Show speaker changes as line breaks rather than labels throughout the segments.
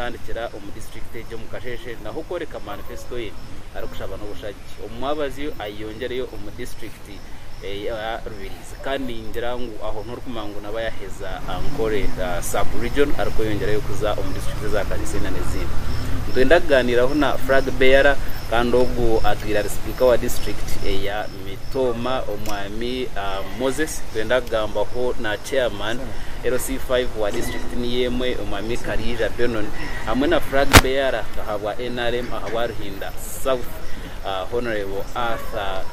Kutandikira omu disiturikiti egyo omu kasheeshe naho kworeka manifesito ye arikushaba n'obushagi omu mwabazyo ayeyongyereyo omu disiturikiti eya Rubirizi kandi ningira ngu aho niho orikumanya ngu naba yaheza Ankole Sub Region arikweyongyerayo kuza omu disiturikiti za Kariisende n'ezindi. Nitwenda kugaaniiraho na Flag Bearer kandi ogwo atwire ari sipiika wa disiturikiti eya Mitooma omwami Moses twenda kugambaho na chairman LC five wa district niyo emwe omwami Kariija Benon hamwe na frag bearer ahabwa nrm ahabwa Ruhinda south honourable Arthur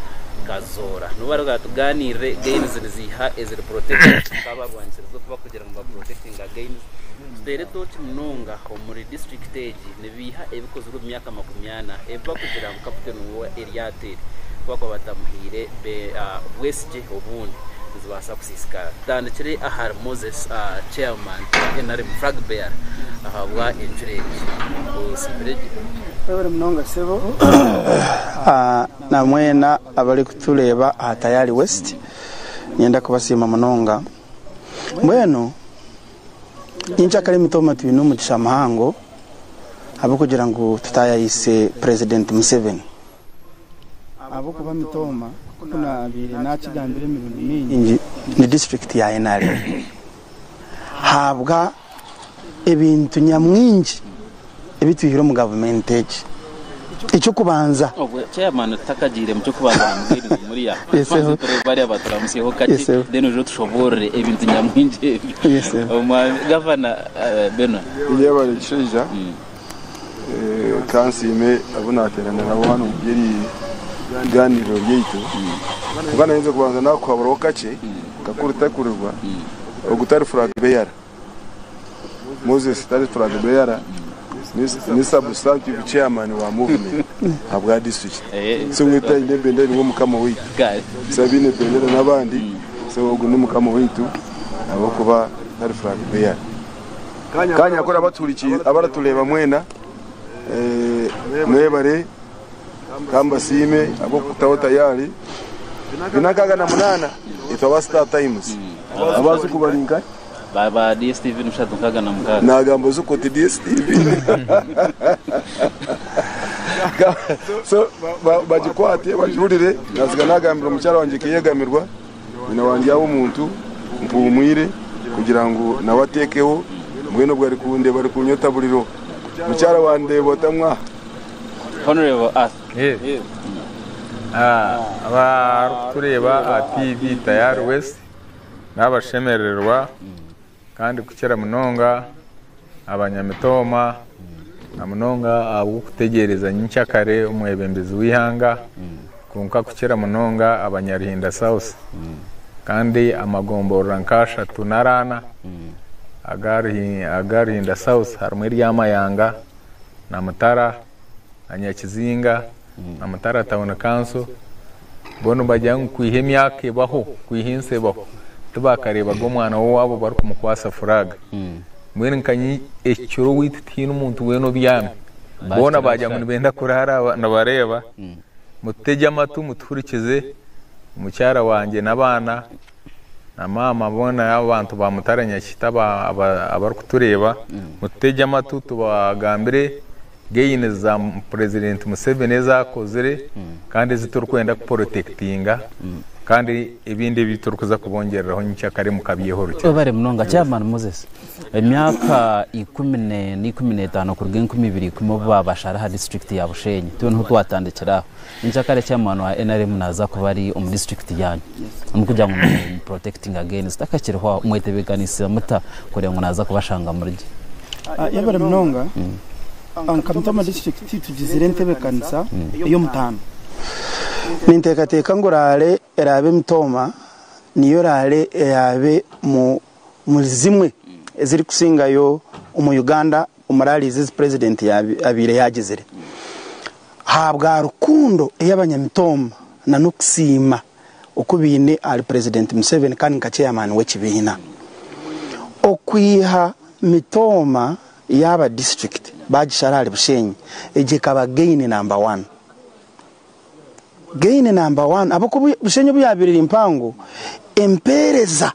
Kazoora nibo bari batuganirire gains niziiha eziri protected kwonka abarwanikyiriza okuba kugira ngu ba protectinga gains tuteera etooki munonga omuri district egi. Beiha ebikozirwe omu myaka makumi ana ebi bakugira ngu kaputeni wa eryato eri ku bakuba batamuhaire bwesigye obundi nizibaasa kusiisikara. Tutandikire ahari Moses Chairman wa nrm Flag Bearer ahabwa enjura egi. Osiimire gye. Webare
munonga sebo na mwena abari kutureba aha Tayari West. Ninyenda kubasiima munonga. Mbwenu. Nyinkya kare mitooma twine omugisha muhango ahabw'okugira ngu tutaayayise Purezidenti Museveni ahabw'okuba mitooma nk'oku naabaire naakigambire emirundi mingi ni disiturikiti ya nrm haabwa ebintu nyamwingi. ebi twihire omu gavumenti egi ekyokubanza obwe chairman tutakagiire
mu ky'okubanza namubwire ngu muriya tubanze turebe bariya baturamutsyeho kakye then oije otushoboorore ebintu nyamwingi ebyo omwami gavana eh, benon Yebare kishaija
mm. eh, kansiime abu nateerana nabo hanu omu byeri bigaaniiriro ryaitu mm. kwonka nainze kubanza nakuhaburaho kakye mm. kakuri takurirwa mm. ogutari flag bearer Moses tari Flag Bearer ni Substantive Chairman wa Movement ahabwa District. So wetu aine ebendera niwe Mukama waitu. So abaine ebendera n'abandi. So ogu ni Mukama waitu ahabw'okuba tari Flag Bearer. Kanyakore abaratureeba mwena mwebare. Ka mbasiime ahabw'okukutaho tayaari. Bina nkaaga na munaana, itwe aba Star Times. Abaazuku bari nkahi? Ba
DSTV bishatu nkaaga na mukaaga. Naagamba ozuku oti
DSTV. So, ba- ba- bagikwate, bagihurire. Naatsiga naagambira omukyara wangye kuyeegamirwa. Nyina wa Ndyawo omuntu mpumwire kugira ngu nawe atekeho mbwenu obwo arikundeba arikunyota buriro mukyara wa Ndeba ota mwaha. Honourable
Arthur. Yes.
Abarikutureeba aha TV tayari west nabashemerererwa. Kandi kukira munonga aba Nyamitooma na munonga ahabw'okutegyereza nyinkya kare omwebembezi w'eihanga kwonka kukira munonga aba Nyaruhinda South kandi amagomborora nka ashatu nari ana aga Ruhinda South harimu erya Mayanga na Mutara na Nyakizinga na Mutara Town Council bo nibagira ngu kwiha emyaka ebaho, kwiha ensi ebaho tibakareebaga omwana w'owaabo barikumukwatsa furaaga. Mbwenu nka nyi ekiro waitu tihaine omuntu weena obyami. Boona baagira ngu nibenda kuraara nibareeba. Mututege amatu mutuhurikize, mukyara wangye n'abaana Na maama boona abo bantu ba mutare nyakita abari kutureeba mututegye amatu tubagambire gains za president museveni ezi akozire kandi ezi turi kwenda ku protectinga kandi ebindi ebi turi kuza kubongyereraho nyikyakare mukabyeho rukye. Webare munonga chairman
Moses. Emyaka ikumi n'ena, ikumi n'etaano kuruga enkumi ibiri ikumi obu baabashara aha disiturikiti ya Bushenyi, itwe niho twatandikira aho. Nyenkyakare eki omwana wa nrm naaza kuba ari omu disiturikiti yanyu omu kugira ngu nimuprotekitinga against akakiriho aho, mwetebeekanisiza muta kureeba ngu naaza kubashanga muri gye? Yabire
munonga. Nka Mutama disiturikiti tugizire entebeekanisa ey'omutaano. Ninteekateeka ngu raale eraabe Mutoma niyo raale eraabe mu. omuri zimwe eziri kusingayo omu Uganda omu rallies ezi president yabaire yagizire ahabwa rukundo eyabanyamitomba na nokusiima oku baine ahari president Museveni kandi nka chairman wekibiina okwiha mitooma yaba district bagishara ahari Bushenyi egyo ekaba gain number one gain number one ahabwokuba Bushenyi obuyabaire eri mpango empereza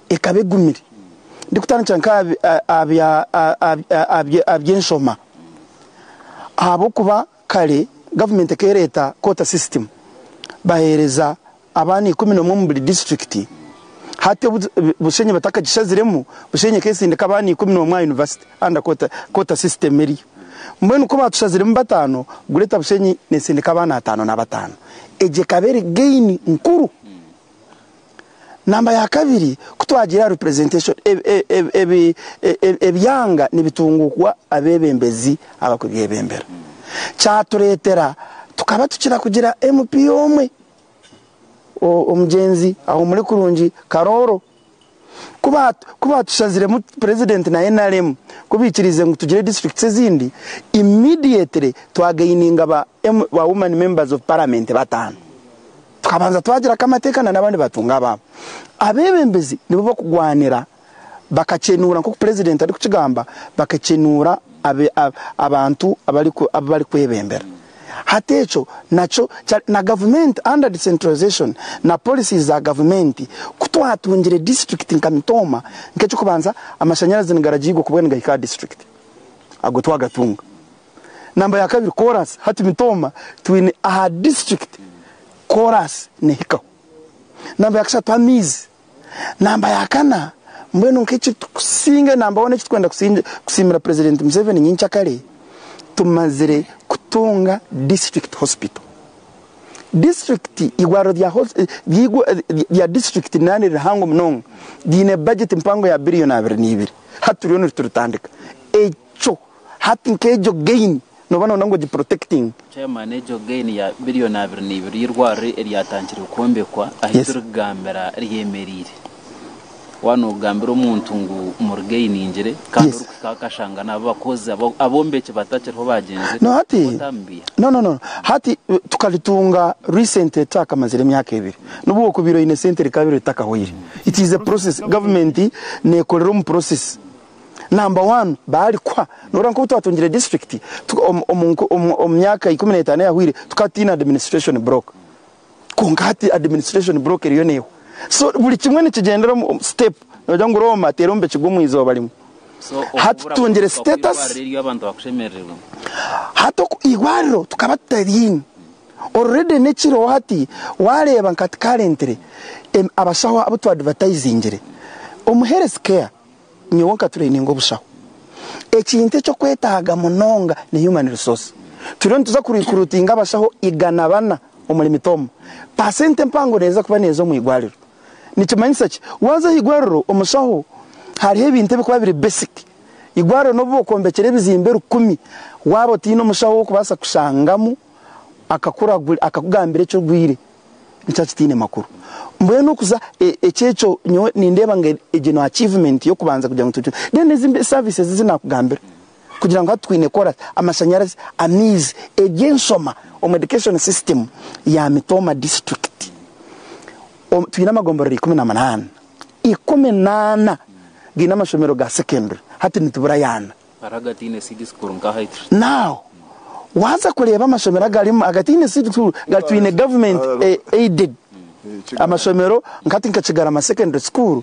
ekaba egumire. Ndikutandikira nk'aha by'enshoma ahabw'okuba kare gavumenti ekaba ereeta koota sisitimu baheereza abaana ikumi n'omwe omu buri disiturikiti. Hati Bushenyi batakagishaziremu, Bushenyi ekaba esindika abaana ikumi n'omwe aha yunivasite anda koota sisitimu eriyo. Mbwenu ku baatushaziremu bataano, Gureta Bushenyi neesindika abaana ataano na bataano. Egyo ekaba eri geini nkuru. Namba ya kabiri ku twagira aha representation ebyanga nibitungukwa abebembezi abakubyebembera kyaturetera tukaba tukira kugira MP omwe omugyenzi Ahumure Kurungi Karooro. Ku ba ku baatushaziremu president na nrm ku baikiriize ngu tugire districts ezindi, immediately twagaininga ba ba woman members of parliament bataano. Tukabanza twagira ku amateeka na n'abandi baatunga abaabo. Abeebembezi nibo bakugwanira bakakyenuura nk'oku president arikukigamba bakakyenuura. abantu abu barikwebembera. Hati ekyo nakyo kyari na gavumenti under decentralization na policies za gavumenti. Ku twatungire disiturikiti nka Mitooma, nk'eky'okubanza amashanyarazi nigaragiirwa kuba nigahika aha disiturikiti. Ago twagatunga. Namba ya kabiri koraasi. Hati Mitooma twine aha disiturikiti koraasi nehikaho. Namba ya kashatu amaizi. Namba ya kana, mbwenu nk'ekirikutusinga enamba hoona ekitwenda kusiimira Purezidenti Museveni nyincakare, tumazire kutunga Disiturikiti Hosipital. Disiturikiti, eirwariro rya disiturikiti niraba niririhango munonga, riine bajeti mpango ya biriyoni abiri na ibiri, hati turiyo nituritandika. Kyo hati nka egyo gain noba noyenda ngu ogiprotectinge. Chairman egyo
gain ya billion abiri neibiri y'eirwariro eryatangire kwombekwa ahiturikugambira ryemereire? Waba nogambira omuntu ngu murigainingire kandi orikuhika aho akashanga nabo abakozi abombeki batakiriho bagyenzire otamubiha?
No no no hati tukaritunga recently tutakamarire emyaka ebiri nobu wokubaire oyine sente rikaba ritakahweire it is a process government nekorera omu process. Number one baari kuha noreeba nkobu twatungire district omu myaka ikumi na etaano eyahweire tukaba tutaine administration block kwonka hati administration block eriyo neehwa so buri kimwe nikigyendera omu step nogira ngu Roma teera omu bikiga omu izooba rimwe. Hati tutungire status
hati
oku eirwariro tukaba tutaryiine already nekiriho hati wareeba nka hati currently abashaho abu twa advertisingire omu health care Nyowe nkatureyininga obushaho. Ekintu eky'okwetaaga munonga ni human resource. Turiyo nituza kurikurutinga abashaho igana bana omuri Mitooma. Paasenti empango neeza kuba neeza omu igwariro. Nikimanyisa ki? Waaza aha igwariro omushaho hariho ebintu ebikuba biri basic. Igwariro n'obu bokwombekire ebizimbe rukumi waaba otaine omushaho ow'okubaasa kushangamu akakugambira eki orwaire. nikyo kitaine makuru. Mbwenu okuza ekyo ekyo nyowe nindeeba ngu egyo ni achievement y'okubanza kugira ngu tucwe. Then ezi services ezi naakugambira kugira ngu hati twine kukora ki? Amashanyarazi, amaizi, eby'enshoma omu education system ya Mitooma district twine amagomborero ikumi na munaana. Ikumi na ana gaine amashomero ga secondary hati nituburayo ana.
Now
waza kureeba amashomero agarimu agataine seed school gatwine government aided amashomero nkati nka kigarama secondary school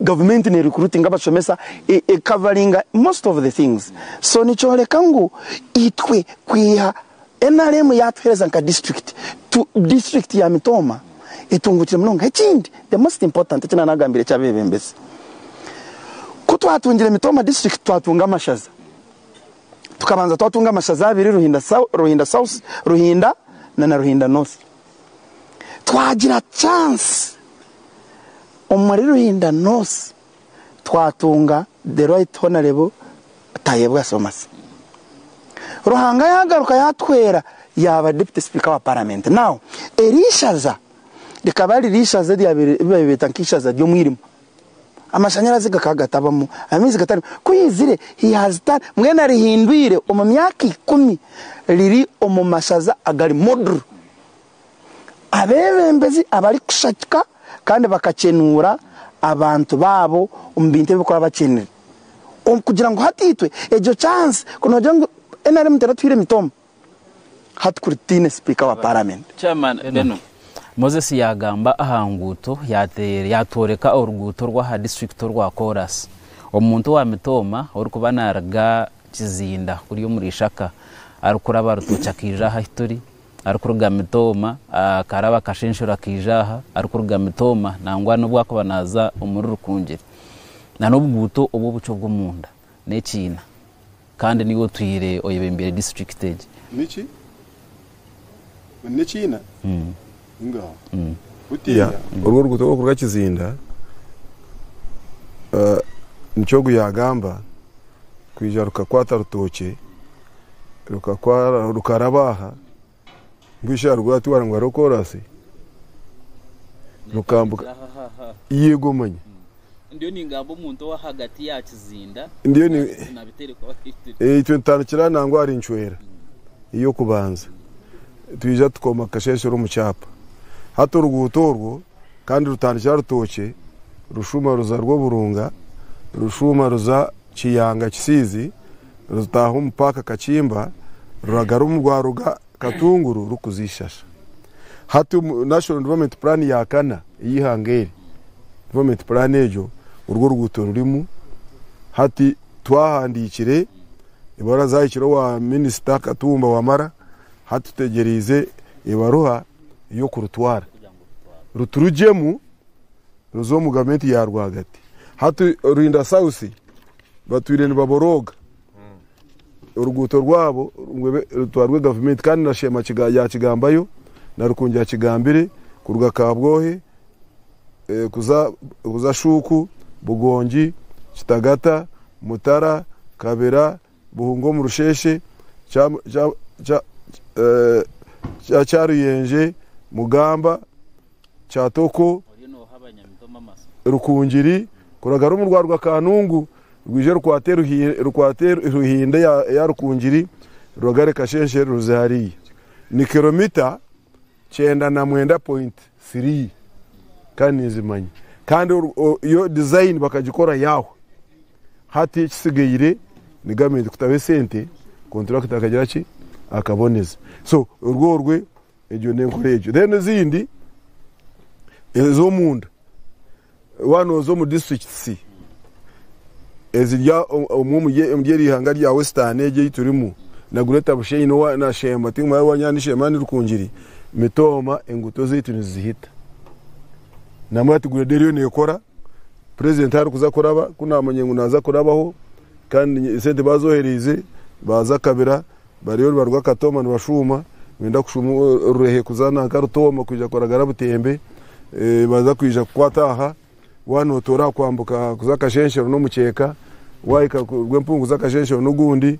government ne recruitinga abashomesa ekavaringa most of the things so nikyoreka ngu itwe kwiha Nrm yaatuheereza nka disiturikiti. Tu, disiturikiti ya Mitooma etunguukire munonga. Ekindi, the most important, eki naanagambira eky'abeebembezi, ku twatungire Mitooma disiturikiti twatunga amashaza. Tukabanza twatunga amashaza abiri, Ruhinda Sou, Ruhinda South, Ruhinda na na Ruhinda North. Twagira chansi omuri Ruhinda North. twatunga the right honourable Tayebwa Thomas. Ruhanga yagaruka yatuhwera yaba deputy speaker wa parliament. Now eri ishaza rikaba riri ishaza eribaire beta nka ishaza ry'omwirima. Amashanyarazi gakaba gatabamu, amaizi gatarimu. Ku yaizire he has turned, mbwenu arihindwire omu myaka ikumi riri omu mashaza agari model. abeebembezi abarikushagika kandi bakakyenuura abantu baabo omu bintu ebi barikuba bakyenire kugira ngu hati itwe egyo chansi ku noogira ngu nrm teratuhaire mitoomo hati kuri tutaine sipiika wa paramenti.
Moses yaagamba aha nguuto yaatworeka oruguuto rw'aha disiturikiti orwa Chorus omuntu owa mitooma orikuba naaruga Kizinda kuriya omuri Ishaka arikuraba Rutookye akaija aha ahi turi Arikuruga Mitooma akaaraba akashenshero akaija aha, arikuruga Mitooma nangwa n'obu arikuba naaza omuri Rukungiri. Na n'obuguuto obw'obucwa obw'omunda n'ekiina kandi niiwe otwire oyebembeire disiturikiti egi. Niki?
N'ekiina? Ingaho. Butiya. Oru oruguuto orw'okuruga Kizinda, nikyo ogu yaagamba, kwija rukakwata Rutookye. rukakwara rukaraba aha mbwenu aha rwatwara ngu hariho korasi rukambuka yego manya ndiyo ningamba
omuntu owahagati ya kizinda ndiyo itwe nitutandikira nangwa ahari
ncwera ey'okubanza twija tukoma kashenshera omu kyapa hati oruguuto orwo kandi rutandikira rutookye rushuma ruza rw'oburunga rushuma ruza Kiyanga Kisiizi ruzitaaha omu paaka Kakimba ruraga rumu rwaruga Katunguru rukuza Ishasha. Hati omu National Development Plan ya kana ey'eihanga eri, Development Plan egyo orwo oruguuto rurimu hati twahandiikire ebaruha zaahikire owa Minisita Katumba Wamara hati tutegyereize ebaruha ey'okurutwara ruturugyemu. Noza omu gavumenti ya rwagati. Hati Ruhinda South batwire nibaborooga oruguuto rwabo ngu ebe rutwarwe gavumenti kandi na Sheema yakigambayo na Rukungi akigambire kuruga Kabwohe eh, kuza kuza Shuuku, Bugongi, Kitagata, Mutara, Kabera, Buhunga omu rusheeshe kya Kyaruyenje, Mugamba, Kyatoko, Rukungiri kuraga rurimu rwaruga Kanungu rwije rukwate Ruhinde ya Rukungiri ruragare Kasheeshe ruze hariya. Ni kiromita. Kyenda na mwenda point three kandi ninzimanya kandi yo design bakagikora yahwe hati ekisigaire ni government kutaho esente contractor akagira ki akaboneza so orwo orwe egyo nenkora egyo then ezindi ezomunda Waaba nooza omu disiturikiti eziri omwo omuri eri ihanga rya Western egi ei turimu, na Greater Bushenyi n'owa na Shemba, ti muraabe waanyanya ni Shemba ni Rukungiri, mitooma enguuto zaitu nizizihita. Naamanya ati gureeda eriyo neekora, purezidenti arikuza kuraba, ku naamanya ngu naaza kurabaho kandi esente baazohereize, baaza akabira, Bariyo nibaruga Katooma nibashuuma, nibenda kushuuma orurehe kuza nanka Rutooma kwija kwaragara Butembe, baza kwija kukwata aha, waaba nootoora aha kwambuka kuza Kashenshero n'omuceeka, waahika kuruga empungu kuza Kashenshero n'ogundi,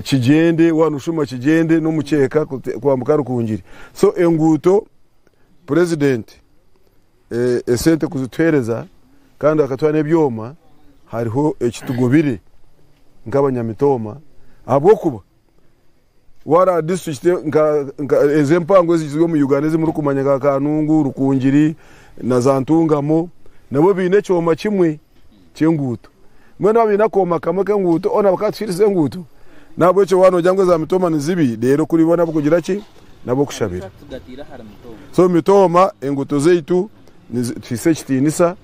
Kigyende waaba nooshuuma Kigyende n'omuceeka kwambuka Rukungiri. So enguuto Purezidenti. Esente kuzituhereza kandi akatwara n'ebyoma hariho ekitugobire nk'abanyamitooma ahabw'okuba wara district nka ezi empango ezi ziri omu Uganda ezi murikumanya nka Kanungu, Rukungiri na za Ntungamo nabo baine ekyoma kimwe ky'enguuto. Mbwenu abaine akooma kamwe k'enguuto boona bakaba tikiirize enguuto. N'ahabw'ekyo waaba noogira ngu eza mitooma ni zibi, reero kuri bo n'ab'okugira ki? N'ab'okushabira. So mitooma, enguuto zaitu tuzihaise ekitiinisa.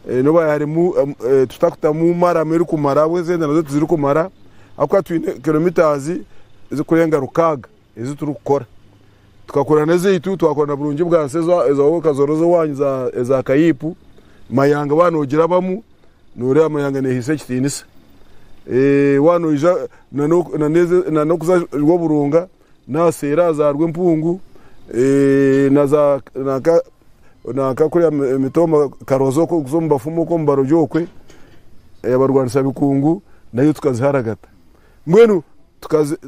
N'obu hariyo harimu, tutakutamu maramu erikumara ahabw'ensi ezindi nazo tizirikumara ahabw'okuba twine kiromitaazi ezikurenga rukaaga. ezi turikukora. Tukakora n'ezaitu, twakora na Burungi bwa Nsi eza Wowe Kazoroza Owanyu eza Kayiipu, Mayanga waaba noogirabamu nooreeba Mayanga neehaisa ekitiinisa. Waaba noija na n'okuza Rwoburunga naha seera za Rwempungu na za nanka kuriya Mitomba Karoza okwo kuza omu bafumu okwo omu barogi okwe abarwanisa bikungu nayo tukaziharagata. Mbwenu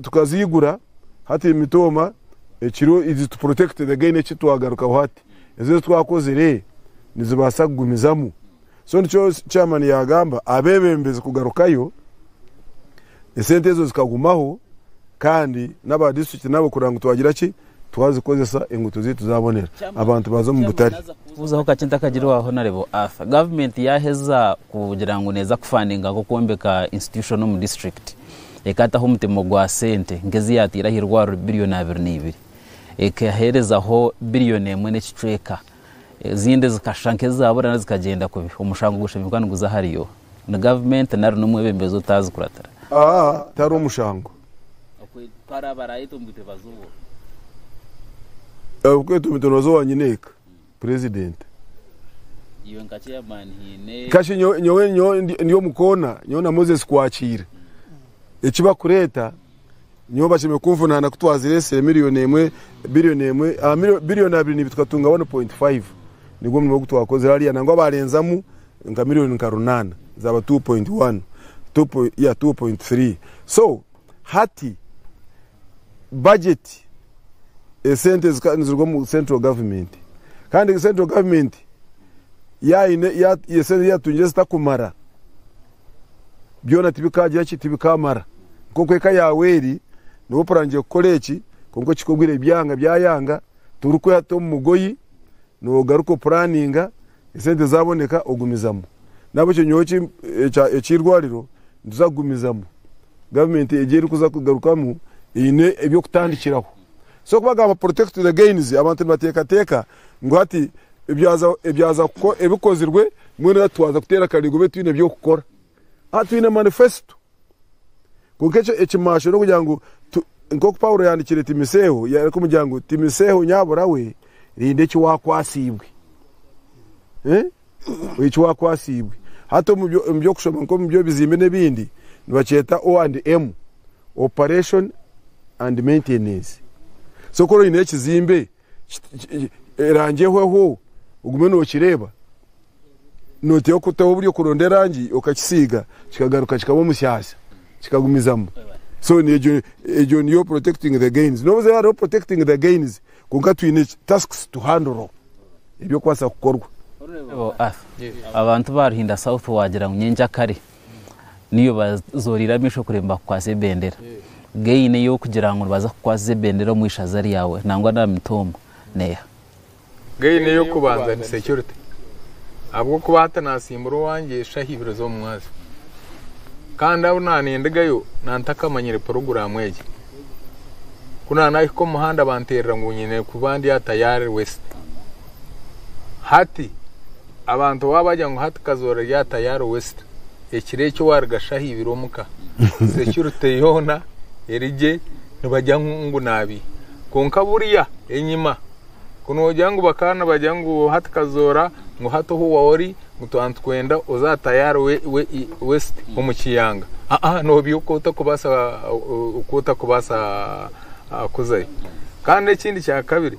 tukaziigura hati emitooma ekiro izi tu protected again eki twagarukaho hati ezo ezi twakozire nizibaasa kugumizamu so nikyo chairman yaagamba abeebembezi kugarukayo esente ezo zikagumaho kandi n'aba district nabo kureba ngu twagira ki Twazikozesa, enguuto zaitu zaabonera, abantu baaza omu butare. Kubuzaho kakye ntakagire
waaho na Lebo Arthur. Gavumenti yaaheza kugira ngu neeza kufandinga nk'okwombeka institution omu disiturikiti, ekaataho omutemo gwa sente nk'ezi yaataire aha irwariro billion abiri na ibiri, ekaheerezaho billion emwe n'ekicweka, ezindi zikashusha nk'ezaabura nari zikagyenda kubi. Omushango gushemeruka niguza ahari yo. Ni gavumenti nari n'omwebembezi otaazi kuratira. Aha tihariho
mushango.
Ahabw'okweta
omuntu nooza owa nyineeka purezidenti.
Kashi nyowe
ndi omu koona, nyowe na Moses kwakiire eki barikureeta, nyowe bashemereire kunvunaana ku twazire esee miriyoni emwe, biriyoni emwe, biriyoni abiri nibyo tukatunga 1.5. Nigwo murimo ogu twakozire hariya nangwa baarenzamu nka million nka runaana zaba two point one two point yeah two point three so hati budget esente zika niziruga omu central government kandi central government yaine ya esente yatungire zitakumara byona tibikagira ki tibikamara nkoku eka yawe eri niwe opurangire kukora eki konka okikogwire byanga byayanga torikweha tomugoyi nogaruka opuraninga Esente zaaboneka ogumizamu. Nahabwekyo nyowe ki ekya eky'irwariro nituza kugumizamu. Government egyo erikuza kugarukamu eine eby'okutandikiraho. So kubagamba protect the gains abantu nibateekateeka ngu hati ebyaza ebyaza kuko ebikozirwe mbwenu hati twaza kuteera akarigo beitu twine eby'okukora. A Twine manifesito. Kwonka ekimasho n'okugira ngu nk'oku Paulo yaandikiire Timoseeho, arikumwira ngu, Timoseeho nyabura we, rinda eki waakwasiibwe. Eki waakwasiibwe. Hati omu by'okushoma nk'omu by'ebizimbe n'ebindi, nibakyeta O and M, Operation and Maintenance. So ku oraba oine ekizimbe, erangi ehweho ogume nokireeba noteho kuteho buri okuronda erangi okakisiiga kikagaruka kikaba omusyasya kikagumizamu so egyo niyo protecting the gains nobuze hariho protecting the gains kwonka twine tasks to handle ebyokubaasa kukorwa abantu
ba Ruhinda South wagira ngu nyenkyakare niyo bazoriire amaisho kuri nibakukwasa ebendera gain eyokugira ngu nibaza kukwasiza ebendera omu ishaza ryawe nangwa na mituuma neha? Gain
eyokubanza ni security ahabwokuba hati nasimbura owangye eshaha ibiri zomu mwazyo kandi ahu naba nindigayo naba ntakamanyire puroguramu egyo ku naba nahika omu muhanda banterera ngu nyine kuba ndi aha tayari west. Hati, abantu waabagira ngu hati kazoora rya tayaari West, ekiro ekyo waarigasha aha ibiro omu ka, securite yoona eri gye, nibagira ngu ngu naabi. Kwonka buriya, enyima, ku noogira ngu bakaba nibagira ngu hati kazoora, ngu hati ohu waori, ngu twaba nitukwenda oze aha tayaari we, we, i, West omu kiyanga, aa, noobi oku otakubaasa, oku otakubaasa kuzayo. Kandi n'ekindi kya kabiri,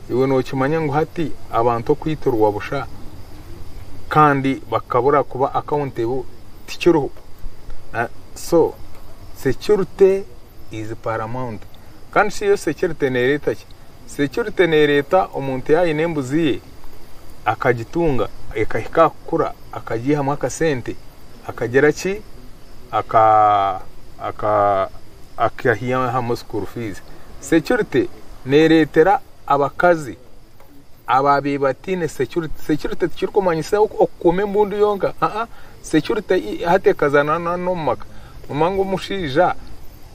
Iwe nookimanya ngu hati abantu okwiturwa busha kandi bakabura kuba accountable tikiriho. So security is paramount. Kandi shi eyo security neereeta ki? Security neereeta omuntu yaaba aine embuzi ye akagitunga ekahika aha kukura akagiihamu akasente akagira ki akahihamu school fees. Security. Neereetera abakazi abaabaire bataine securite. Securite tikirikumanyisa okukuuma embundu yonka. Aa, securite hati ekazaana n'omu maka. Noomanya ngu omushaija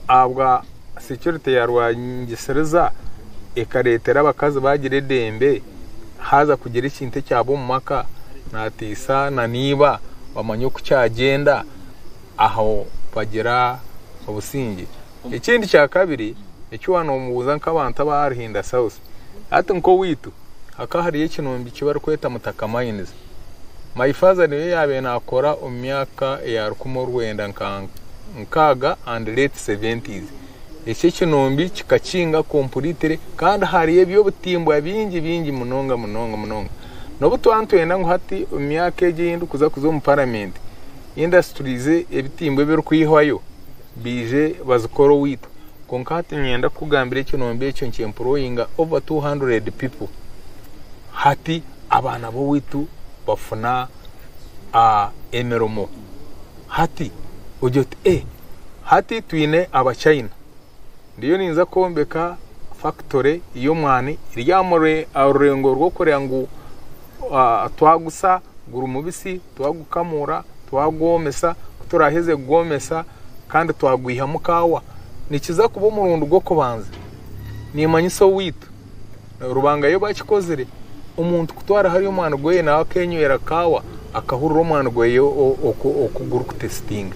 ahabwa securite yaarwangisiriza ekareetera abakazi baagira eidembe, haaza kugira ekintu ekyaba omu maka, naatiisa nan'eiba bamanya oku kyagyenda, aho bagira obusingye. Ekindi kya kabiri eki waanomubuuza nk'abantu aba Arhinda South hati nk'owaitu hakaba hariyo ekinoombyo eki barikweta Mutaka Mines. My father niyo yaabaire naakora omu myaka eya rukumi orwenda nka nkaaga and late seventies. Eki ekinoombyo kikakinga completely kandi hariyo eby'obutimbwa bingi bingi munonga munonga munonga. N'obu twaba nitwenda ngu hati omu myaka egi ei ndikuza kuza omu paramenti industries ebitimbwa ebirikwihwayo, Baije bazikore owaitu. Kwonka hati niinyenda kukugambira ekirombe ekyo nkyeempurooyinga over two hundred pipo. Hati abaana b'owaitu bafuna emirimo. Hati ogira oti ee, hati twine Abachina. Ndiyo niinza kwombeka fakitore y'omwani eri aha rurengo rw'okureeba ngu twaguza guri mubisi Twagukamuura, twagwomesa, ku turaaheza kugwomesa kandi twagwihamu kaawa, nikiza kuba omurundi gw'okubanza, niimanyisa owaitu, Rubanga y'obu akikozire, omuntu kutwara hariya omwani gweye naawe akeenywera kaawa akahurira omwani gweye oku gurikutesitinga.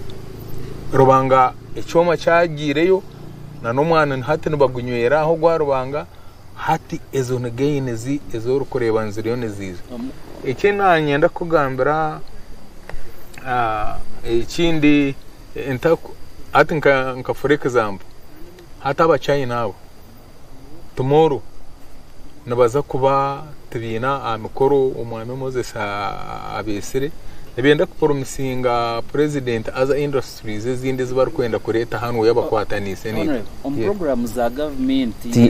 Rubanga ekyoma kyagyireyo, na n'omwani hati nibagunywera aho ogwa Rubanga. Hati ezo ni gain zi ezi orikureeba niziriyo niziija. Eki nanyenda kukugambira ekindi hati nka for example hati aba China abo tomorrow nibaza kuba tibaine aha mikoro omwami Moses abetsire nibenda ku promisinga president other industries. Subiiza ezindi ezi barikwenda
kureeta hanu oyabakwataniise n'ebi.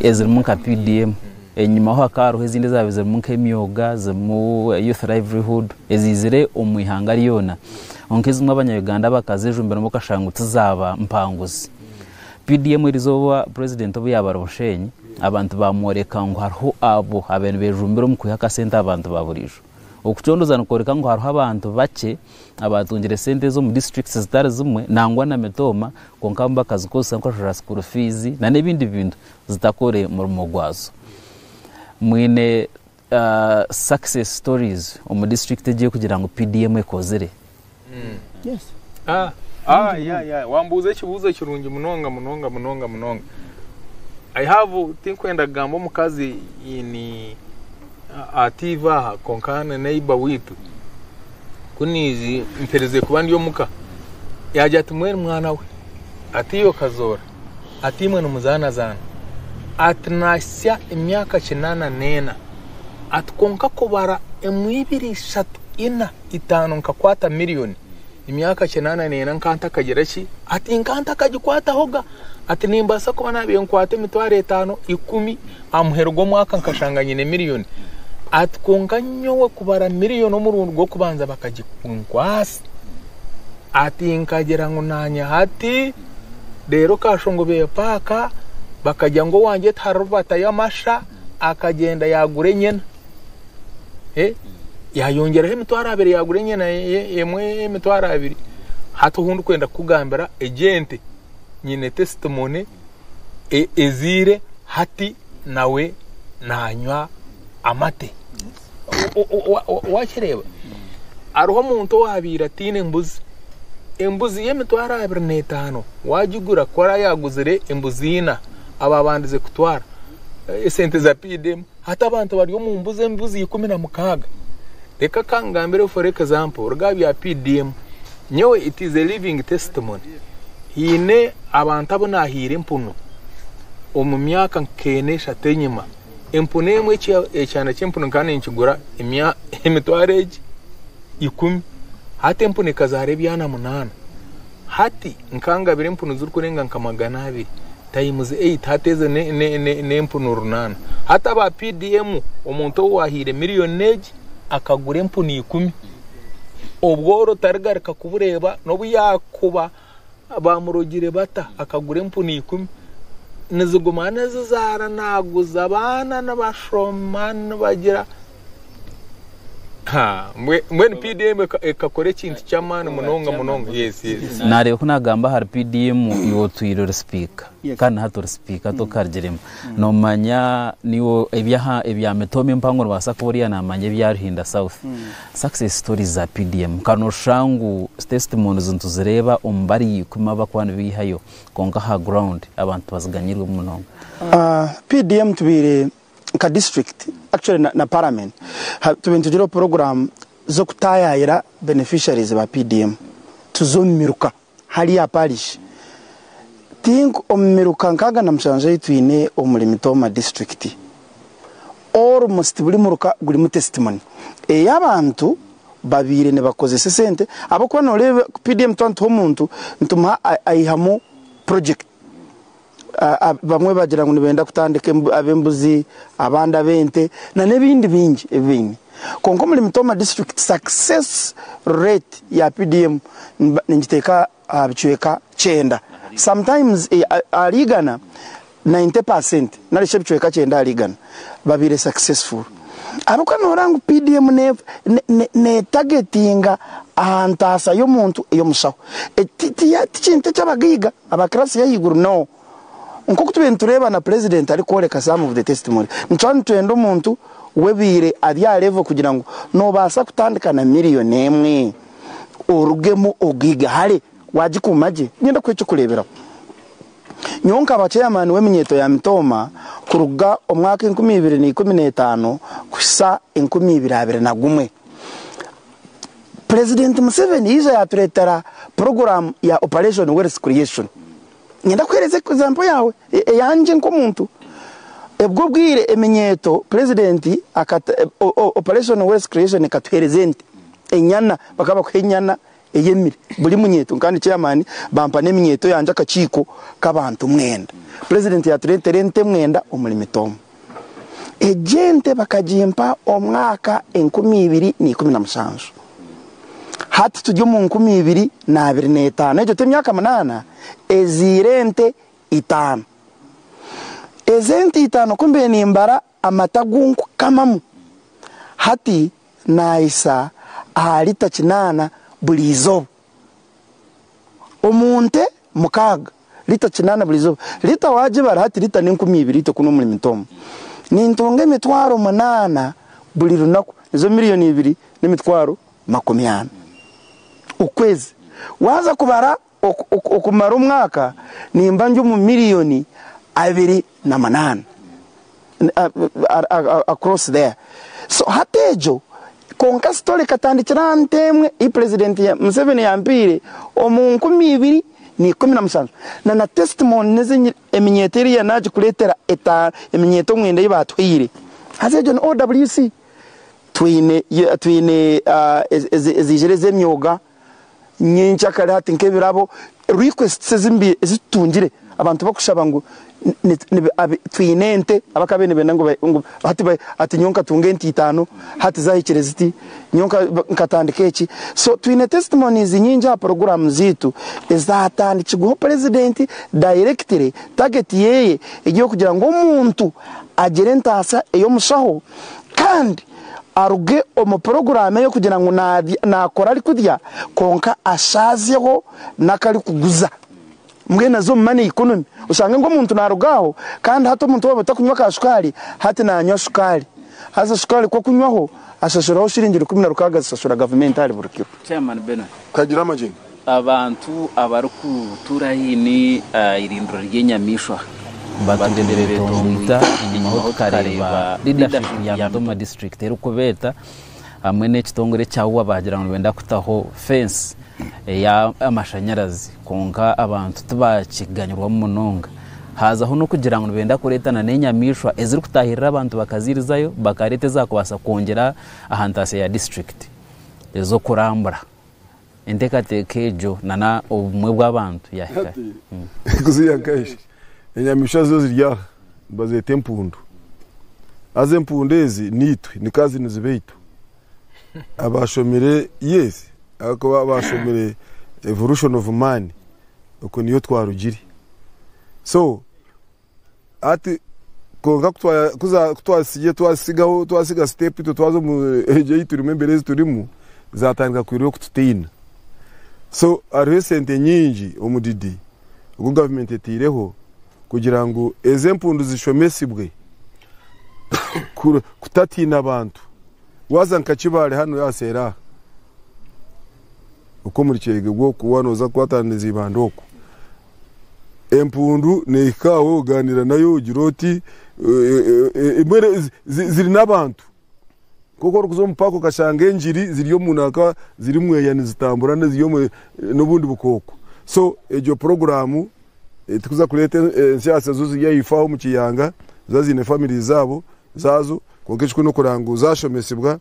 ezirimu nka
PDM. Enyima ho hakaba hariho ezindi ezaabaire zirimu nk'emyoga, zirimu Youth Livelihood eziizire omu ihanga ryona. Kwonka ezimwe Abanya-Uganda bakazejumbiramu bakashanga ngu tizaaba mpanguzi. PDM erizooba Purezidenti obu yaaba ari Bushenyi, abantu baamworeka ngu hariho abo abaabaire nibejumbira omu kwiha akasente aha bantu ba buriijo. Okucondooza nikworeka ngu hariho abantu bakye. abaatungire sente ezi omu districts zitari zimwe nangwa na mitooma kwonka abamu bakazikozesa nk'okushashura school fees na n'ebindi bintu zitakore murimo gwazo. Mwine success stories omu district egi erikugira ngu PDM ekozire? Yes.
Ah,
ah, yeah, yeah. Wambuuza ekibuuzo kirungi munonga munonga munonga munonga. I have, tinkwenda kugamba omukazi in Ati, Iva aha, kwonka haine neighbour waitu. Ku naija mpereze kuba ndi omuka. Yaagira ati, Mwenu mwana we? Ati, Iwe okazoora? Ati, Imwe nimuzaanazaana? Ati, Naahitsya emyaka kinaana n'ena. Ati, Kwonka kubara emwe, ibiri, ishatu, ina. itaano nkakwata million emyaka kinaana neena nka ntakagira ki ati nka ntakagikwataho ga ati nimbaasa kuba naabire nkwata emitwaro etaano ikumi aha muheru gw'omwaka nkashanga nyine million ati kwonka nyowe kubara million omurundi gw'okubanza bakagikunkwasa ati nkagira ngu naanya hati reero kashongo beye paaka bakagira ngu owangye tihariho batayo amasha akagyenda yaagura enyena Eh, yayongyeraho emitwaro abiri yagura enyana ye- ye- emwe y'emitwaro abiri hati ohu ndikwenda kukugambira egi ente nyine testimony e- ezaire hati nawe nanywa amate O- o- wa- wa- wakireeba hariho omuntu owabaire ataine embuzi embuzi y'emitwaro abiri n'etaano wagigura ku oraba yaguzire embuzi ina ababandize kutwara esente za paid emu Hati abantu bari omu mbuzi embuzi ikumi na mukaaga. Reka ka nkugambire for example oruga aha bya PDM. Nyowe it is a living testimony. Haine abantu abu naahaire empunu omu myaka nk'ena eshatu enyima. Empunu emwe ekya ekyana ky'empunu nkaba ninkigura emya emitwaro egi ikumi. Hati empunu ekazaara ebyana munaana. Hati nkangabira empunu zirikurenga nka magana abiri. Times Eight hati ezo n'empunu runaana. Hati aba PDM omuntu ou waahaire milioni egi akagura empunu ikumi. Obworo tarigarika kubureeba n'obu yaakuba baamurogire bata akagura empunu ikumi. Niziguma nizizaara naaguza abaana nibashoma nibagira. Naareeba ku naagamba
ahari PDM iwe otwire ori sipiika kandi na hati ori sipiika tokarigiremu. Noomanya naiwe ebya mitooma empango noobaasa kuba oriya naamanya ebya Ruhinda South. Success stories za PDM nka nooshusha ngu testimonies nituzireeba omu bari ikumi abarikuba nibeihayo kwonka aha ground abantu tibaziganyirwe munonga. PDM
tubaire nka district actually na, na parliament ha- tube nitugireho program z'okutayayira beneficiaries ba PDM tuze omu miruka hali aha parish think omu miruka nkaaga na mushanju ei twine omuri Mitooma district almost buri muruka gurimu testimony ei abantu babaire nibakozesa esente ahabw'okuba nooreeba PDM twatuha omuntu nitumuha ai- aihamu project Abamwe bagira ngu nibenda kutandika ab'embuzi, abandi ab'ente nana ebindi bingi ebi baine. Kwonka omuri Mitoma district success rate ya PDM ningiteeka aha bicweka kyenda sometimes ahari igana, ninety percent nari shi ebicweka kyenda ahari igana babaire successful. Ahabw'okuba nooreeba ngu PDM neetagetinga aha ntaasa y'omuntu ey'omushaho. Eki ti kintu eky'abagaiga. Aba class y'ahaiguru no. Nk'oku tubaire nitureeba na Purezidenti arikworeka some of the testimony, nituba nitwenda omuntu w'ebiire ari aha level kugira ngu noobaasa kutandika na million emwe orugemu ogiige hare waagikuuma gye. Niinyenda kuha eky'okureeberaho. Nyowe nkaba Chairman w'eminyeeto ya Mitooma kuruga omwaka enkumi ibiri na ikumi na etaano kuhitsya enkumi ibiri abiri na gumwe. Purezidenti Museveni yaija yaatureetera puroguraamu ya Operation Wealth Creation. Niinyenda kuheereza ekizaampo yaawe eyangye nk'omuntu. Ebwo obwire eminyeeto Purezidenti akata Operation Wealth Creation ekatuheereza ente, enyana, bakaba bakuha enyana eyemire buri munyeeto kandi Chairman bampa n'eminyeeto yangye akakiiko k'abantu mwenda. Purezidenti yaatureetera ente mwenda omuri mitoomo. Egi ente bakagimpa omwaka enkumi ibiri na ikumi na mushanju. Hati turi omu nkumi ibiri na abiri n'etaano. Egyo t'emyaka munaana? Ezaire ente itaano. Ezi ente itaano ku mbaire nimbara amata agu nkukamamu, hati naahisa aha lita kinaana buri izooba. omu nte mukaaga, liita kinaana buri izooba. Liita waagibara hati, liita ni enkumi ibiri itwe kunu omuri Mitomu. Nintunga emitwaro munaana buri runaku, nizo milioni ibiri n'emitwaro makumi ana okwezi. Waaza kubara okumara omwaka, nimba ndi omu milioni abiri na munaana. across there so hati egyo kwonka story ekatandikira aha nte emwe ei president Museveni yampeire omu nkumi ibiri na ikumi na mushanju na na testimony nezi eminyeeto eri ya nagikureetera etaano eminyeeto mwenda ei baatuhaire haza egyo ni OWC twine twine eziijire ez'emyoga. nyenkya kare hati nk'ebirabo requests ezimbi ezitutungire abantu bakushaba ngu twine ente abaka bene benda ngu hati hati nyowe nkatunga ente itano hati zahikire ziti nyowe nkatandika eki so twine testimonies nyingi aha program zitu ezatandikirweho president directly target yeye eri yokugira ngu omuntu agire entasa ey'omushaho kandi aruge omu puroguraamu eyo kugira ngu naakora arikurya kwonka ashaazeho n'aku arikuguza. Mbwenu aze omu money economy oshange ngu omuntu naaruga aho kandi hati omuntu waaba atakunywa ka shukaari hati naanywa shukaari. Haza shukaari ku akunywaho ashashuraho shiringi rukumi na rukaaga zishashura gavumenti ahari buri kiro. Chairman Bernard
Kagiramagyenyi.
Abantu
abarikutuura haihi n'eirindiro ry'enyamaishwa bateeberire
eitongo ita enyimaho tukareeba leadership ya Mudoma district erikubeeta hamwe n'ekitongore ekya ua baagira ngu nibenda kutaho fence ey'amashanyarazi kwonka abantu tibakiganyirwamu munonga haazaho n'okugira ngu nibenda kureeta nana enyamaishwa ezirikutaahirira abantu bakaziirizayo bakareeta ezaakubaasa kwongyera aha ntaasya ya district ez'okurambura. Enteekateeka egyo nana obumwe bw'abantu yaahika hi? Kuziiha
nkaihi? Enyamaishwa zo ziri aha, nibazeeta empundu. Haza empundu ezi niitwe, ni kazi ni zibaitu. Abaashomire, yes, ahabw'okuba abaashomire evolution of man, okwo niyo twarugire. So. Hati kwonka ku twazitsigire, twazitsigaho, twazitsiga siteepu itwe twaza omu eegi ei turimu, embeera ezi turimu, zaatandika kuhurira okututiina. So hariho esente nyingi, omudidi ogu gavumenti eteireho kugira ngu ezi empundu zishomesibwe kutatiina abantu. Waaza nka Kibaale hanu aha seeri aha, oku omuri Kyegegwa oku, waaba nooza kukwatana na Izibanda oku, empundu nehika aho oganira nayo ogira oti mbwenu ziri n'abantu nkoku orikuza omu paaka okashanga engiri ziri omu nanka ziri mweya nizitambura n'obundi bukooko so egyo puroguramu tikuza kureeta ensyatsya zo ziri ahaifo aho omu kiyanga ziba ziine famire zaazo kwonka ekikuru n'okuraba ngu zashomesibwa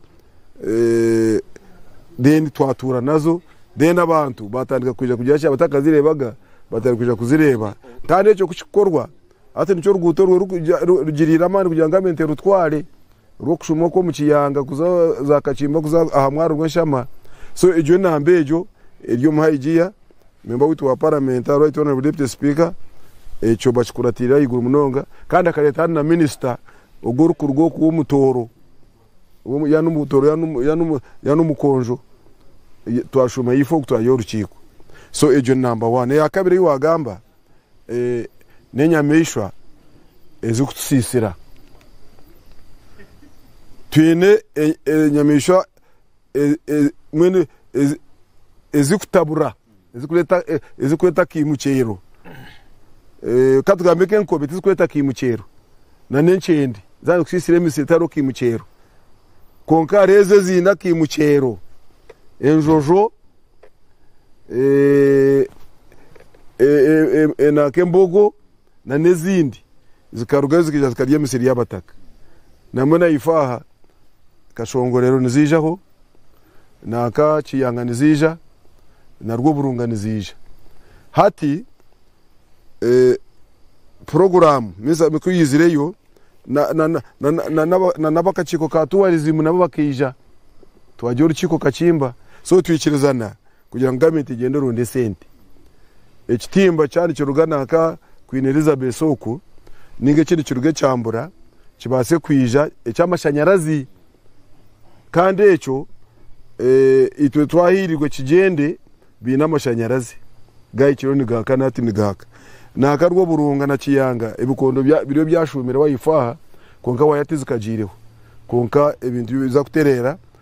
then twatuura nazo then abantu batandika kwija kugira ki abatakazireebaga batandika kwija kuzireeba kandi ekyo ku kikukorwa hati nikyo ruguuto orwo rugiriire amaani kugira ngu Gavumenti erutware rw'okushuma oku omu Kiyanga kuza za Kakimba kuza aha mwaro rw'enshama so egyo enamba egyo eri omu Haigiya memba waitu wa Paramenti aha Right Honourable Deputy Speaker ekyo bakikuratiire ahaiguru munonga kandi akareeta hanu na Minisita ogu orikuruga oku w'omutooro Yaaba n'omutooro, yaaba n'omukonjo, twashoma ahaifo oku twayiha orukiiko. So egyo ni namba wani. Eya kabiri ei waagamba, n'enyamaishwa ezirikutusiisira. Twine enyamaishwa mbwenu ezirikutabura. ezirikureeta akaimukyero, ka tugambe nk'enkobe tizirikureeta akaimukyero, nan'enkyende zaaba nizikusiisira emisiri tihariho kaimukyero. Kwonka hariho ezo eziine akaimukyero, enjojo, nanka embogo. na n'ezindi zikarugayo zikaija zikarya emisiri y'abataka. Namwe na ife aha Kashongorero niziijaho, nanka Kiyanga niziija, na Rwoburunga niziija. Hati puroguraamu ku yaizireyo, na n'abakakiiko ka tuwarizimu nabo bakaija, twagira orukiiko kakimba. So twikirizana. Kugira ngu gavumenti egyende eronde esente, ekitimba kya nikiruga nanka Queen Elizabeth oku ninga eki nikiruga e Kyambura kibaase kwija eky'amashanyarazi kandi ekyo itwe twahairwe kigyende baine amashanyarazi gahikireo nigahaka nati nigahaka. Nanka Rwoburunga na Kiyanga ebikondo biriyo byashuumireho aha ifo aha kwonka waaya tizikagyireho kwonka ebintu biza kutereera.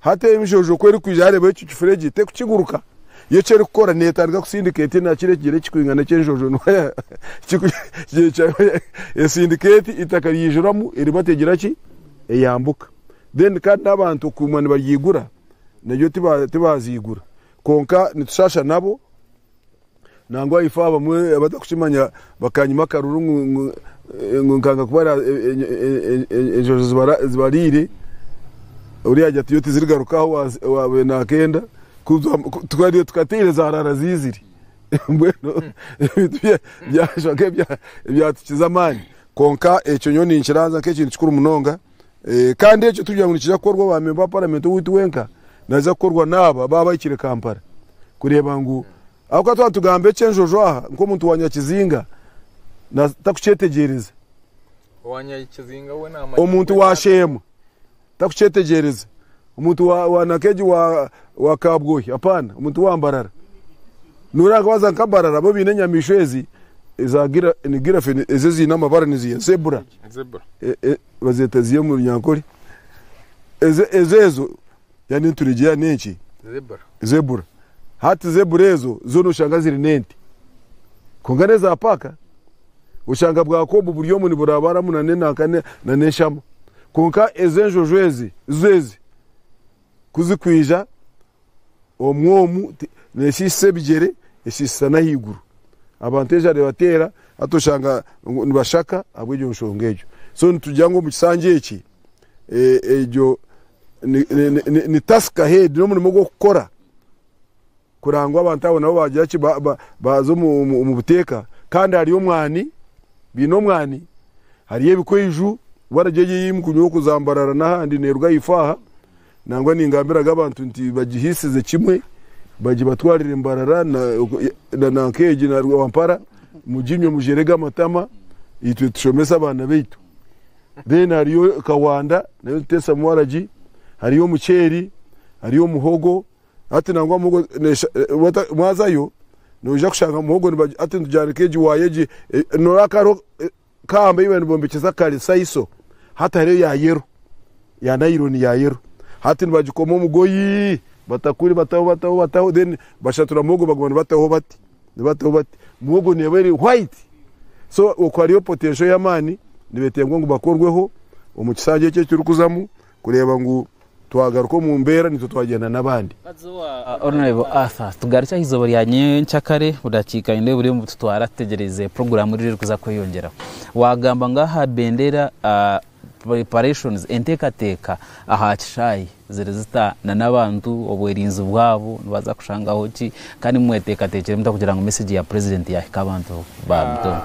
Hati eyo mishojo ku erikwija yareeba ekyo kifura egi te kukiguruka, yo eki erikukora netandika kusindika eti na kiri ekigyere kikwingana eki enshojo no esindika eti itaka ryijuramu eriba tegira ki eyambuka then kandi n'abantu okuguma nibaryigura naryo tibaziigura kwonka nitushasha nabo. Nangwa ifo abamwe abatakukimanya bakanyima akaruru ngu ngu- ngu nkanga kubara e- e- e- e- e- enjojo zibara- zibariire ori yagya tiyo tizirigarukaho wazi- wabe nakenda kuza- ku- tukari- tukateire zarara zizire mbwenu ebintu bya- byashwa nk'ebya- ebyatukiza amaani kwonka ekyo nyowe ninkiranzya nk'ekintu kikuru munonga Kandi ekyo tikugira ngu nikiija kukorwa owa memba wa paramenti owaitu wenka, naaza kukorwa n'abo abaaba bahikire Kampala kureeba ngu, ahabw'okuba twaba nitugamba eky'enjojo aha nk'omuntu wa nyakizinga takukyetegyereza,
omuntu wa sheema
takukyetegyereza. Omuntu wa wa Nakeji wa wa Kabwohi apana omuntu wa Mbarara. Noreeba nka waza nka Mbarara bo baine enyamaishwa ezi eza gira ni giraffe ezi eziine amabara niziha zebra Zebra. e- e- bazeeta ziha omu Runyankore. Eze ezo ezo ya n'enturegye ya n'enki Zebra. zebra. Hati zebra ezo zo noshanga ziri n'ente. Kwonka n'eza paaka. Oshanga bwako obu buri omu niburabaramu na n'enanka na n'eshama. Kwonka ezo enjojo ezi zo ezi ku zikwija omwo omu neeshiishisa ebigyere, eshiishisa n'ahaiguru. Abantu enjara ebateera hati oshanga nibashaka ahabw'egyo nshonga egyo. So nitugira ngu omu kishangye eki egyo ni task ahead, n'omurimo gw'okukora. Kurora ngu abantu abo nabo baagira ki? Baaza omu buteeka. Kandi hariyo omwani, baine omwani, hariyo ebikwaiju, waragi egyo ei mukunywa oku za Mbarara n'ahandi neeruga aha ifaaha, nangwa ningambiraga abantu nti bagihiisize kimwe, bagibatwarire Mbarara na nk'egi na Rwampara, muginywe mugyerege amatama, itwe tushomese abaana baitu. Then hariyo Kawanda, nayo nituteesamu waragi, hariyo omuceeri, hariyo muhogo. Hati nangwa muhogo nesha wata mwazayo noija kushanga muhogo niba hati nitujanika egi waya egi noraba kariho kamba eyi baba nibombekyesa kare saiso hati hariyo ya yero ya nayironi ya yero hati nibagikoma omugoyi batakuri bataho bataho bataho then bashatura muhogo baguma nibataho bati nibataho bati muhogo neba eri white so oku hariyo potensho yamani nibetengwa ngu bakorweho omu kisanja eki ekirikuzamu kureba ngu. Twagaruka omu mbeera naitwe twagyenda n'abandi. Honourable
Arthur, tugarukye aha eizooba rya nyentsya kare budakiika nindeeba buriyo nibututwara tutegyereize puroguraamu riri erikuza kweyongyeraho. Waagamba ngu aha bendeera preparations, enteekateeka aha kishaayi ziri zita nana abantu obwerinzi bwabo nibaza kushangaho ki kandi mweteekateekire muta kugira ngu meseegi ya purezidenti yaahika abantu ba Mutooro?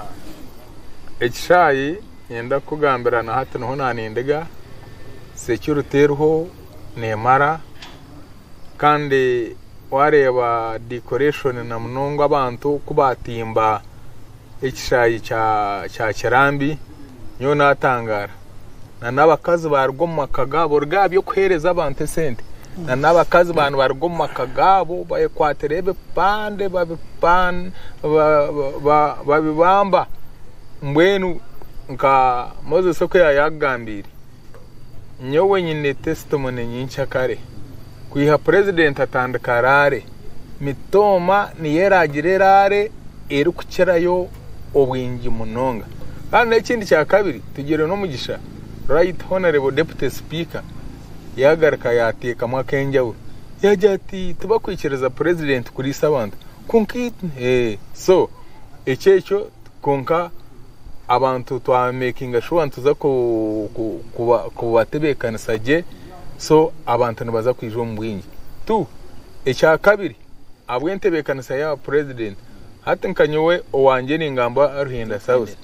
Ekishaayi niinyenda kukugambira na hati niho naanindiga security eriho neemara kandi waareeba decoration na munonga abantu ku baatimba ekishaayi kya Kirambi nyowe naatangaara nana abakazi baaruga omu maka gaabo oruga aha by'okuheereza abantu esente nana abakazi ba nibaruga omu maka gaabo bayekwatira ebipande babibamba mbwenu nka Moses oku yaabaire akugambiire nyowe nyine testimony nyinkye kare kwiha purezidenti atandika raale mitooma niyo eraagira eraale erikukirayo obwingi munonga kandi n'ekindi kyakabiri tugire n'omugisha right honourable deputy speaker yagaruka yatekamu akenjawulo yagira ati tibakwikiriza president kuriisa abantu kwonka eeh so ekyo ekyo kwonka abantu twa makinga sure nituza kubatebekanisa gye so abantu nibaza kwija omu bwingi tu ekyakabiri ahabw'entebeekanisa ya purezidenti, hati nka nyowe owangye ningamba Ruhinda South,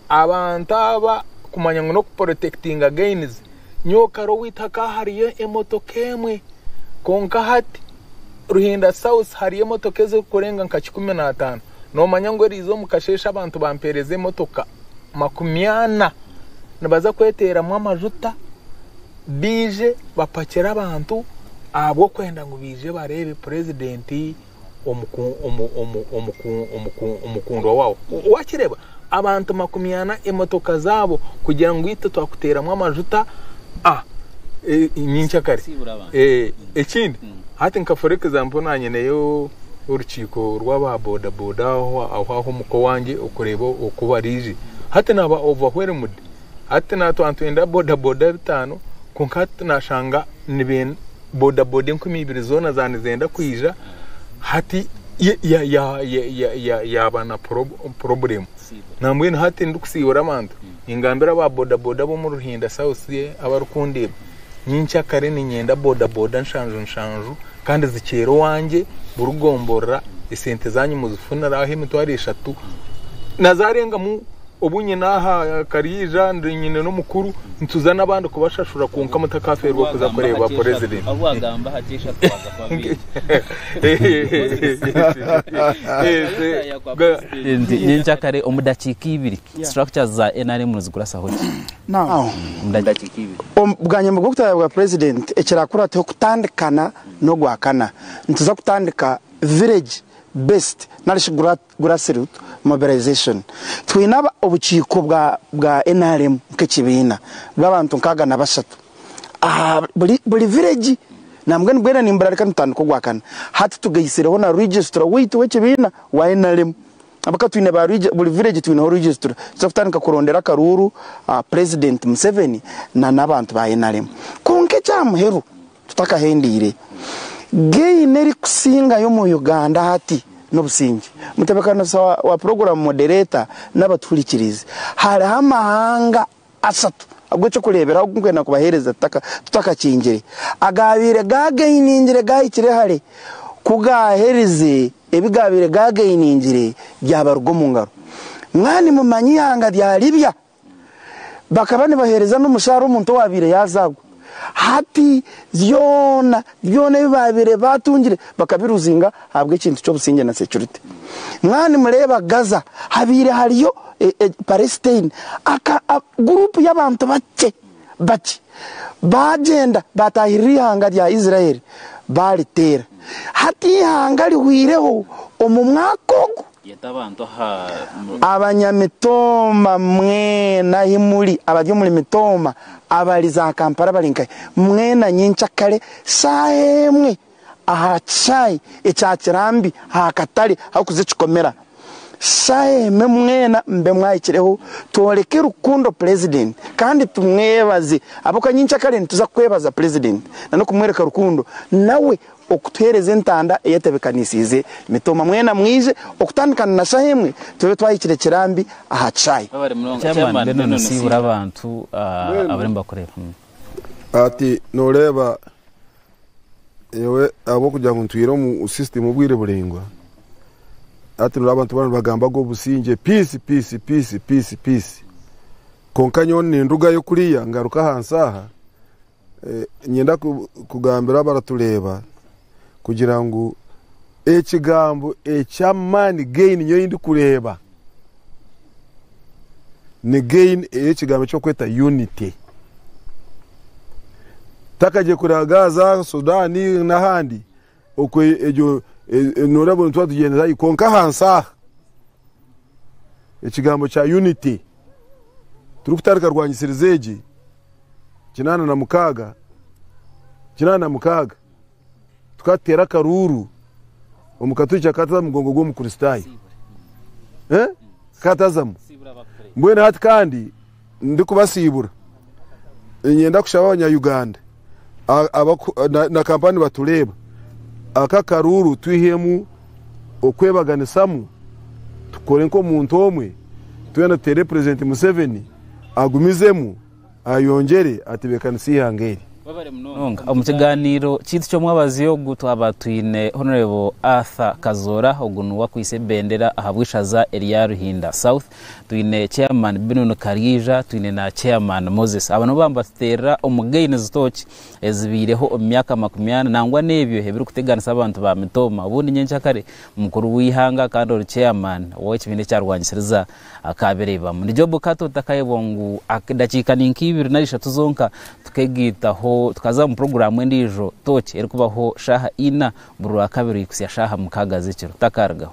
abantu aba kumanya ngu n'okupurotekitinga gainizi, nyowe kare owaitu hakaba hariyo emotoka emwe kwonka hati Ruhinda South hariyo emotoka ezirikurenga nka kikumi na ataano, noomanya ngu eriize omu kasheeshe abantu bampeereza emotoka makumi ana nibaza kweteeramu amajuta. baije bapakire abantu ahabw'okwenda ngu baije bareebe purezidenti omukundwa waabo. Waakireeba, abantu makumi ana, emotoka zaabo kugira ngu itwe twakuteeramu amajuta nyinkya kare. Ekindi, hati nka for example naanye nyineyo orukiiko rw'aba bodaboda aho aha omuka owange okureeba oku baraije. Hati naaba overwhelmed. Hati naatwara nitwenda bodaboda bitaano kwonka hati nashanga bodaboda enkumi ibiri zoona za nizenda kwija hati yaaba na poroburemu nambwenu hati ndikusiibura abantu ningambira aba bodaboda ab'omu Ruhinda south abarikundeeba Nyinkya kare niinyenda bodaboda nshanju nshanju kandi zikyera owangye burigomborora esente zanyu muzifunira aho emitwaro eshatu na zaarengamu obu nyine aha kariija nyine n'omukuru nituza n'abandi kubashashura kwonka mutakafeerwa kuza kureeba
purezidenti.
Nyinkya kare omu dakiika ibiri Structures za nrm nizikurasaho ki omu
dakiika ibiri?
Bwanyima bw'okutaaya bwa
Purezidenti, ekiraakurataho kutandikana n'Ogwakana, nituza kutandika Village Based narishi Grassroot Mobilization. Twine obukiiko bwa nrm nk'ekibiina bw'abantu nkaaga na bashatu aha buri vireegi nambwenu nibwena nimburarika nitutandika Ogwakana. Hati tugaisireho na Registra waitu w'ekibiina wa nrm. Ab'aka twine ba Rwija, buri village twineho Rwijisitule. Tuza kutandika kurondera akaruuru aha President Museveni na n'abantu ba nrm. Kwonka ekya muheru, tutakahendeire, gain erikusingayo omu Uganda hati n'obusingye. Mutebekaniso wa program moderator n'abatuhurikirizi, hariho amahanga ashatu ag'eky'okureeberaho agu nkwenda kubaheereza tutakakingire. Agaabaire gaagainingire gaahikire hare, ku gaaherize, ebi gaabaire gaagainingire byabaruga omu ngaro. Mwaba nimumanya eihanga rya Libya, bakaba nibaheereza n'omushaara omuntu owaabaire yaazaagwa. Hati byona byona ebi baabaire baatungire bakabiruzinga ahabw'ekintu ky'obusingye na securite. Mwaba nimureeba Gaza, habaire hariyo Palestine, aka guruupu y'abantu bakye bakye baagyenda baataahirira eihanga rya Israel baariteera. Hati eihanga rihweireho omu mwaka ogu. Yeta abantu
aha. Abanyamitooma
mwena ahi muri, abari omuri Mitooma, abari za Kampala abari nkahi, mwena nyinkya kare shaaha emwe aha kishaayi ekya Kirambi aha katare aharikuza ekikomera. Shaaha emwe mwena mube mwahikireho tworeke rukundo Purezidenti kandi tumwebaze ahabw'okuba nyinkya kare nituza kwebaza Purezidenti nana okumworeka rukundo nawe Okutuheereza entanda eyetebekanisiize mitoma. Mwena mwije okutandika na shaha emwe tube twahikire kirambi aha kishaayi. Chairman, mbwenu
nosiibura abantu abariyo nibakureeba? Ati,
Noreeba nyowe ahabwokugira ngu ntwiire omu system obwire buraingwa, hati noreeba abantu boona nibagambaga obusingye, peace, peace, peace, peace, peace. Kwonka nyowe nindugayo kuriya ngaruka ahansi aha Niinyenda kugambira abaratureeba kugira ngu ekigambo eky'amaani gain nyowe ei ndikureeba ni gain ey'ekigambo eky'okweta unity. Takagye kuraaga aha za Sudan n'ahandi Okwo egyo noorabura nituba tugyendera haihi kwonka ahansi aha ekigambo kya unity turikutarika rwanyisiriza egi kinaana na mukaaga kinaana na mukaaga tukatuteera akaruuru omukatwikya kataza mugongo gw'omukristaayo eh? katazamu mbwenu hati kandi Ndikubasiibura, niinyenda kushaba Abanya-Uganda na Kampala nibatureeba, aka akaruuru twihemu okwebaganisamu tukore nk'omuntu omwe, twena tuteere Purezidenti Museveni agumizemu ayongyere atebeekanise eihanga eri. Omu
kigaaniiro kyaitu ky'omwabazyo ogu twaba twine Honourable Arthur Kazoora, ogu niwe akwaitse ebendera ahabw'eishaza erya Ruhinda South, twine chairman Binuni Karyaija, twine na chairman Moses. Aba nibo baba nibatuteerera omu gain zitooki ezibaireho omu myaka makumi ana nangwa n'ebyo ebirikuteganisa abantu ba mitooma. Obundi nyenkya kare mukuru w'eihanga kandi ori chairman w'ekibiina ekyarwanyisiriza Kaabiraibamu. Ni Job Kato otakayebwa ngu edakiika ni nk'eibiri nari ishatu zonka tukegaitaho tukaza omu puroguraamu endiijo tooki erikubaho shaaha ina buri Rwakabiri kuhitsya shaaha mukaaga
z'ekiro.
Takaarugaho.